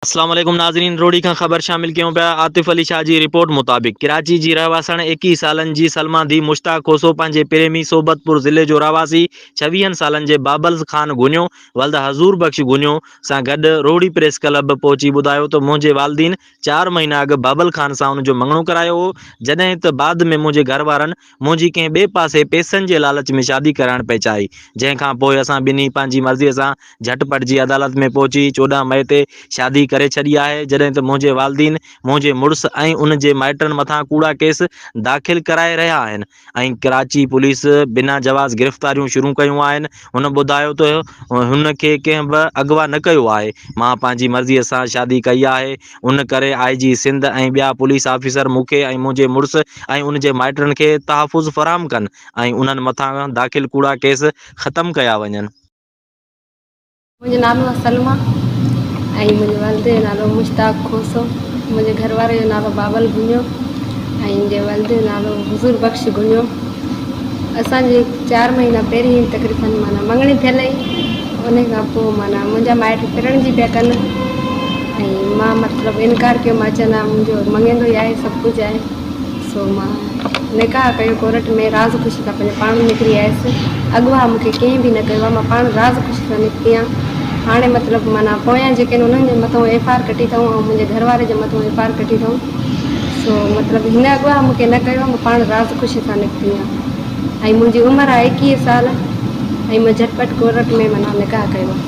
اسلام عليڪم ناظرين روھڙي کان خبر شامل ڪيون پيا عاطف علي شاھ جي رپورٽ مطابق ڪراچي جي رهواسڻ ايڪيهه سالن جي سلمان ڌي مشتاق کوسو پنهنجي پريمي صحبت پور ضلعي جو رهواسي ڇويهن سالن جي بابلز خان گونيو ولد حضور بخش گونيو سان گڏ روھڙي پريس ڪلب پهچي ٻڌايو ته منهنجي والدين چار مهينا اڳ بابل خان سان ان جو مڱڻو ڪرايو هو جڏهن ته بعد ۾ منهنجي گهر وارن منهنجي ڪنهن ٻئي پاسي پيسن جي لالچ ۾ شادي ڪرائڻ پئي چاهي، جنهن کان پوء اسان ٻنهي پنهنجي مرضيء سان جهٽ پٽ جي عدالت ۾ پهچي چوڏهن مئي تي شادي ڪري ڇڏي آهي، جڏهن ته منهنجي والدين منهنجي مڙس ۽ ان جي مائٽن مٿان ڪوڙا ڪيس داخل ڪرائي رهيا آهن ۽ ڪراچي پوليس بنا جواز گرفتاريون شروع ڪيون آهن، هن ٻڌايو ته هن کي ڪنهن به اغوا نه ڪيو آهي، مان پنهنجي مرضيء سان شادي ڪئي آهي. ان ڪري آء جي سنڌ ۽ ٻيا پوليس آفيسر مون کي ۽ منهنجي مڙس ۽ ان جي مائٽن کي تحفظ فراهم ڪن ۽ انهن مٿان داخل ڪوڙا ڪيس ختم ڪيا وڃن. منهنجو نالو آهي سلميٰ ۽ منهنجي والد جو نالو مشتاق کوسو، منهنجي گهر واري جو نالو بابل گهنيو ۽ منهنجي والد جو نالو حضور بخش گهنيو. اسان جي چار مهينا پهرين تقريبن معنيٰ مڱڻي ٿيل هئي ان کان پوء معنيٰ منهنجا مائٽ ڦرڻ جي پيا ڪن ۽ مان مطلب انڪار ڪيو مان چيو نه منهنجو مڱيندو ئي آهي سڀ ڪجهه آهي سو مان نڪاح ڪيو ڪورٽ ۾ راز خوشي سان پنهنجو پاڻ نڪري آيس اغوا مون کي ڪنهن به نه ڪيو مان پاڻ راز خوشي سان نڪتي آهيان هاڻي مطلب معنيٰ پويان جيڪي آهن انهن جي مٿان ايف آر ڪٽي اٿائون ۽ منهنجي گهر واري جي مٿان ايف آر ڪٽي اٿائون سو مطلب هن اغوا مون کي نه ڪيو آهي، مان پاڻ راض خوشي سان نڪتي آهيان ۽ منهنجي عمر آهي ايڪيهه سال ۽ مان جهٽ پٽ ڪورٽ ۾ معنيٰ نڪاح ڪيو آهي.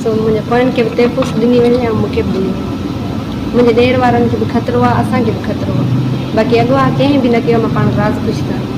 سو منهنجي پوين کي به تحفظ ڏني وڃي ۽ مون کي به ڏني وڃي. منهنجي ڏير وارن کي به خطرو آهي، اسان کي به خطرو آهي. باقي اغوا ڪنهن به نه ڪيو آهي، مان پاڻ راض خوشي سان آهيان.